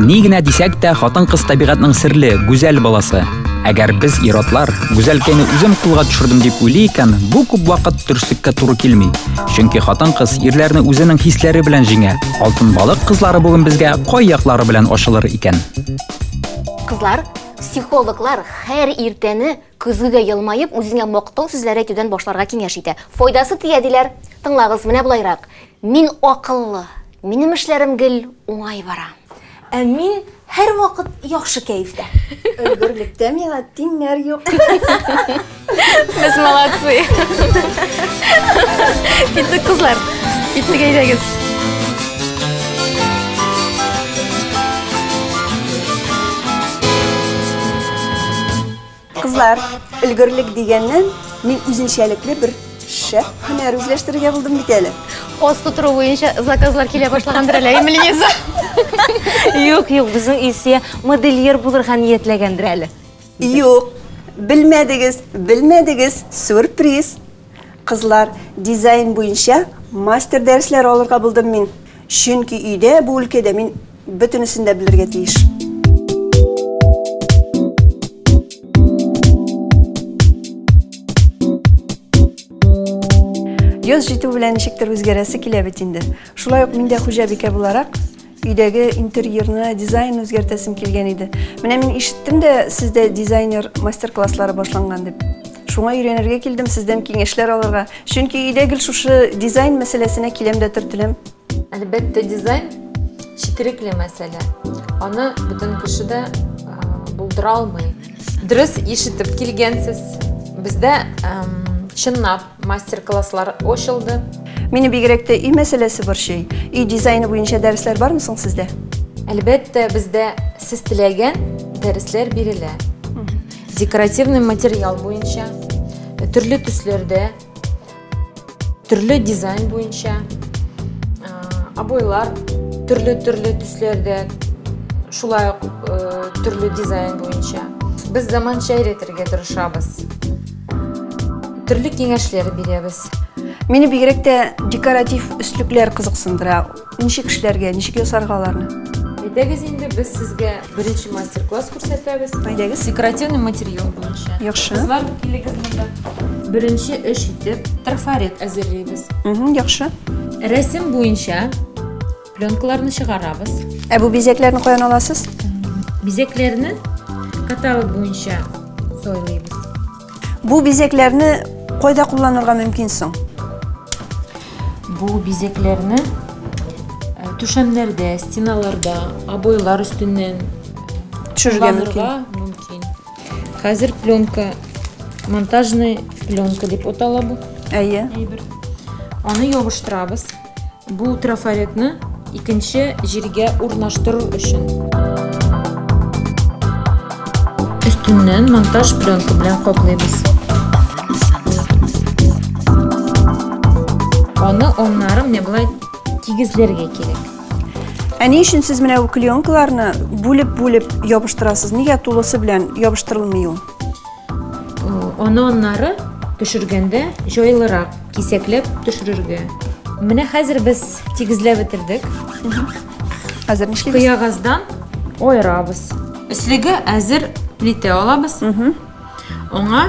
Ни генә дисәк тә, хатын-кыз табигатьнең серле, гүзәл баласы. Әгәр без ир-атлар гүзәлкәйне үзем кулга төшердем дип уйлый икән, бу күп вакыт дөреслеккә туры килми. Чөнки хатын-кыз ирләрне үзенең хисләре белән җиңә. Алтын балык кызлары бүген безгә кай яклары белән ачылыр икән? Кызлар, психологлар һәр иртәне көзгегә елмаеп үзеңә мактау сүзләре әйтүдән башларга киңәш итә. Файдасы тия диләр. Тыңлагыз, менә болайрак. Мин акыллы, минем эшләрем гел уңай бара. Ә мин һәрвакыт яхшы кәефтә. Өлгерлектә миңа тиңнәр юк. Без молодцы. Киттек кызлар. Киттек әйдәгез. Кызлар, өлгерлек дигәннән, мин үзенчәлекле бер шәп һөнәр үзләштерергә булдым бит әле. Ос тутыру буенча заказлар килә башлагандыр әле, әйеме, Лиза? Юк, юк, безнең Илсия модельер булырга ниятләгәндер әле. Юк, белмәдегез, белмәдегез, сюрприз. Кызлар, дизайн буенча мастер дәресләре алырга булдым мин. Чөнки өйдә, бу өлкәдә мин Бөтенесен дә белергә тиеш. Яз җитү белән ничектер үзгәрәсе килә бит инде. Шулай ук мин дә хуҗабикә буларак өйдәге интерьерны, дизайн үзгәртәсем килгән иде. Менә мин ишеттем дә, сездә дизайнер мастер-класслары башланган дип. Шуңа өйрәнергә килдем, сездән киңәшләр алырга. Чөнки өйдә гел шушы дизайн мәсьәләсенә киләм дә төртеләм. Әлбәттә, дизайн четерекле мәсьәлә. Аны бөтен кеше дә булдыра алмый. Дөрес ишетеп килгәнсез. Бездә чынлап мастер-класслар ачылды. Мине бигрәк тә өй мәсьәләсе борчый. Өй дизайны буенча дәресләр бармы соң сездә? Әлбәттә, бездә сез теләгән дәресләр бирелә. Декоративный материал буенча, төрле төсләрдә Төрле дизайн буенча обойлар төрле-төрле төсләрдә, шулай ук төрле дизайн буенча. Без заманча өйрәтергә тырышабыз. Төрле киңәшләр бирәбез. Мине бигрәк тә декоратив өслекләр кызыксындыра. Ничек эшләргә, ничек ясарга аларны? Әйдәгез инде без сезгә беренче мастер-класс күрсәтәбез. Әйдәгез. Декоративный материал буенча. Яхшы. Кызлар килегез монда. Беренче эш итеп трафарет әзерлибез. Угу, яхшы. Рәсем буенча пленкаларны чыгарабыз. Ә бу бизәкләрне каян аласыз? Бизәкләрне каталог буенча сойлыйбыз. Бу бизәкләрне кайда кулланырга мөмкин соң? Бу бизәкләрне э, түшәмнәрдә, стеналарда, обойлар өстеннән төшерергә мөмкин. Хәзер пленка, монтажный пленка дип атала бу. Әйе. Әйбер. Аны ябыштырабыз. Бу трафаретны икенче җиргә урнаштыру өчен. Өстеннән монтаж пленка белән каплыйбыз. Аны оннары менә болай тигезләргә кирәк. Ә ни өчен сез менә бу клеенкаларны бүлеп-бүлеп ябыштырасыз? Нигә тулысы белән ябыштырылмый ул? Аны аннары төшергәндә җайлырак кисәкләп төшерергә. Менә хәзер без тигезләп бетердек. Хәзер нишлибез? Кыягаздан аерабыз. Өслеге әзер плитә алабыз. Аңа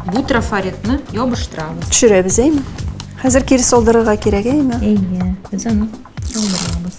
бу трафаретны ябыштырабыз. Төшерәбез, әйме? Хәзер кире салдырырга кирәк, әйме? Әйе, без аны салдырабыз.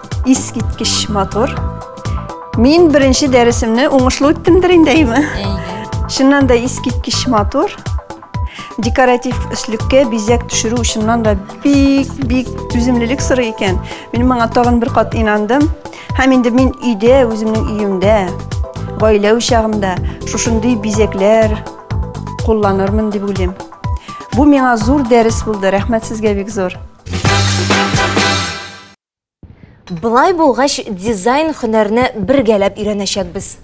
Искиткеч матур. Мин беренче дәресемне уңышлы үттемдер инде, әйме? Чыннан да искиткеч матур. Декоратив өслеккә бизәк төшерү чыннан да бик-бик түземлелек сорый икән. Мин моңа тагын бер кат инандым. Һәм инде мин өйдә, үземнең өемдә, гаилә учагымда шушындый бизәкләр кулланырмын дип уйлыйм. Бу миңа зур дәрес булды. Рәхмәт сезгә бик зур. Болай булгач, дизайн һөнәрне бергәләп өйрәнәчәкбез.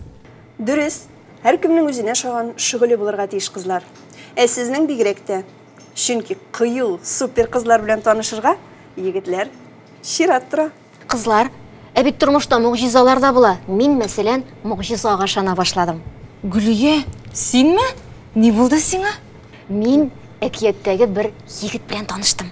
Дөрес, һәркемнең үзенә ошаган шөгыле булырга тиеш, кызлар. Ә сезнең бигрәк тә. Чөнки кыю, супер кызлар белән танышырга, егетләр, чират тора. Кызлар, ә бит тормышта могҗизалар да була. Мин, мәсәлән, могҗизага ышана башладым. Гөлия, синме? Ни булды сиңа? Мин әкияттәге бер егет белән таныштым.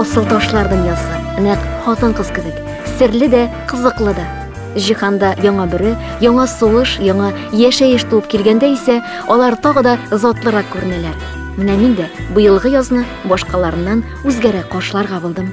асыл ташлардан язган нәкъ хатын кыз кебек серле дә кызыклы да җиһанда яңа бүре яңа сулыш яңа яшәеш туып килгәндә исә алар тагы да затлырак күренәләр менә мин дә быелгы язны башкаларыннан үзгәрәк каршыларга булдым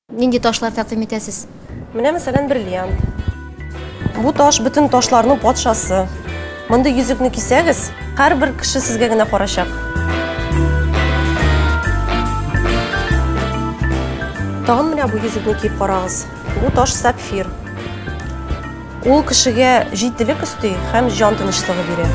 Нинди ташлар тәкъдим итәсез? Менә мәсәлән бриллиант. Бу таш бөтен ташларның патшасы. Мондый йөзекне кисәгез, һәрбер кеше сезгә генә карачак. Тагын менә бу йөзекне киеп карагыз. Бу таш сапфир. Ул кешегә җитдилек өсти һәм җан тынычлыгы бирә.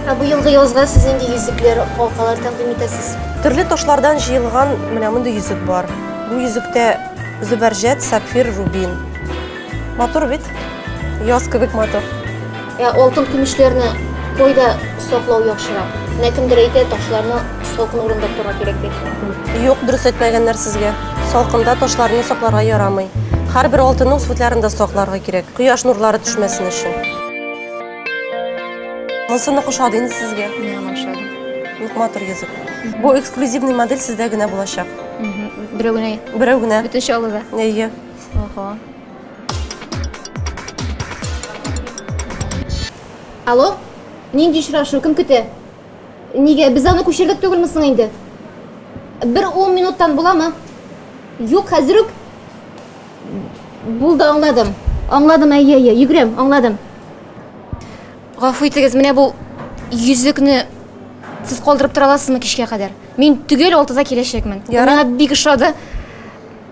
Ә бу елгы язга сез нинди йөзекләр, халкалар тәкъдим итәсез? Төрле ташлардан җыелган менә мондый йөзек бар. Бу йөзектә зөбәрҗәт, сапфир, рубин. Матур бит. Яз кебек матур. Ә алтын көмешләрне койда саклау яхшырак. Менә кемдер әйтә, ташларны салкын урында тора кирәк дип. Юк, дөрес әйтмәгәннәр сезгә. Салкында ташларны сакларга ярамый. Һәрбер алтынның сутларын да сакларга кирәк. Кояш нурлары төшмәсен өчен. Монсыны кушады инде сезгә. Миңа ошады. Юк, матур йөзек. Бу эксклюзивный модель сездә генә булачак. Берәү генә. Берәү генә. Бөтен чаллыда. Әйе. Ого. Алло? Нинди очрашу? Кем көтә? Нигә? Без аны күчердек түгелме соң инде? Бер ун минуттан буламы? Юк, хәзер үк. Булды, аңладым. Аңладым, әйе, әйе, йөгерәм, аңладым. Гафу итегез, менә бу йөзекне сез калдырып тора аласызмы кичкә кадәр? Мин төгәл алтыда киләчәкмен. Ярар. Миңа бик ошады.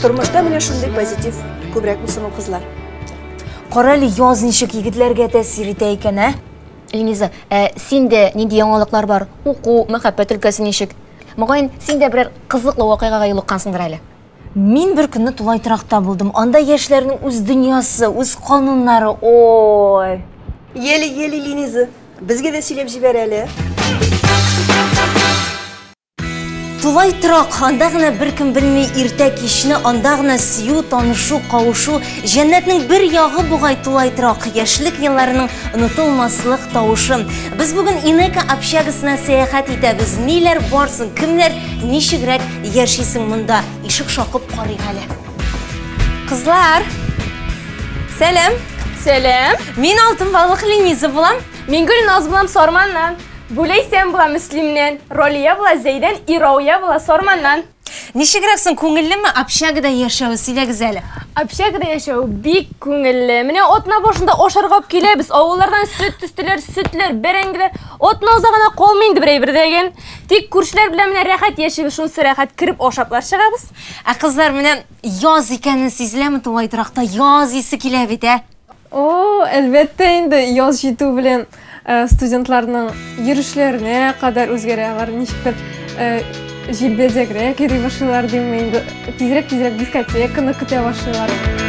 тормышта менә шундый позитив күбрәк булсын ул кызлар кара әле яз ничек егетләргә тәэсир итә икән ә эльмиза ә синдә нинди яңалыклар бар уку мәхәббәт өлкәсе ничек Мөгаен, син дә берәр кызыклы вакыйгага юлыккансыңдыр әле? Мин бер көнне тулай торакта булдым. Анда яшьләрнең үз дөньясы, үз кануннары. Ой! Ели, ели, Линиза. Безгә дә сөйләп җибәр әле. Тулай торак, анда гына беркем белми иртә кичне, анда гына сөю, танышу, кавышу. Җәннәтнең бер ягы бугай тулай торак, яшьлек елларының онытылмаслык тавышы. Без бүген Инека общагасына сәяхәт итәбез. Ниләр барсын, кемнәр ничегрәк яшисең монда? Ишек шакып карыйк әле. Кызлар! Сәлам! Сәлам! Мин Алтын балык Лениза булам. Мин Гөлназ булам Сарманнан. Бүләйсәм була Мөслимнән. Ролия була Зәйдән, Ирауя була Сарманнан. Ничегрәк соң, күңеллеме общагада яшәве, сөйләгез әле? Общагада яшәү бик күңелле. Менә атна башында ашарга ук киләбез. Авыллардан сөт төстеләр, сөтләр, бәрәңгеләр. Атна уза гына калмый инде бер әйбер дә ген. Тик күршеләр белән менә рәхәт яшибез, шунсы рәхәт, кереп ашаплар чыгабыз. Ә кызлар, менә яз икәне сизеләме тулай торакта, яз исе килә бит, ә? О, әлбәттә инде, яз җитү белән э, студентларның йөрешләренә кадәр үзгәрә. Алар ничектер э, җилбәзәгрәк йөри башлыйлар димме инде. Тизрәк-тизрәк дискотеканы көтә башлыйлар.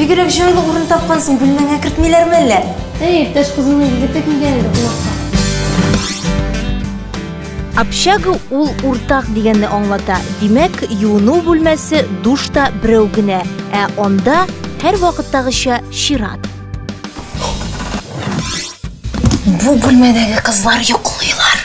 Бигрәк җайлы урын тапкансың, бүлмәңә кертмиләрме әллә? Әй, иптәш кызының егете килгән иде кунакка. Общага ул уртак дигәнне аңлата, димәк, юыну бүлмәсе, душ та берәү генә, ә анда, һәрвакыттагыча, чират. Бу бүлмәдәге кызлар йоклыйлар.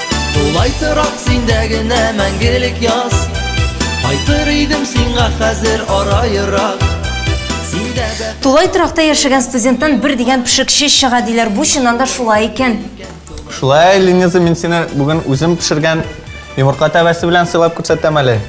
Тулай торак синдә генә мәңгелек яз Кайтыр идем сиңа хәзер ара ерак Тулай торакта яшәгән студенттан бер дигән пешекче чыга диләр. Бу чыннан да шулай икән. Шулай, Лениза, мин сине бүген үзем пешергән йомырка тәбәсе белән сыйлап күрсәтәм әле.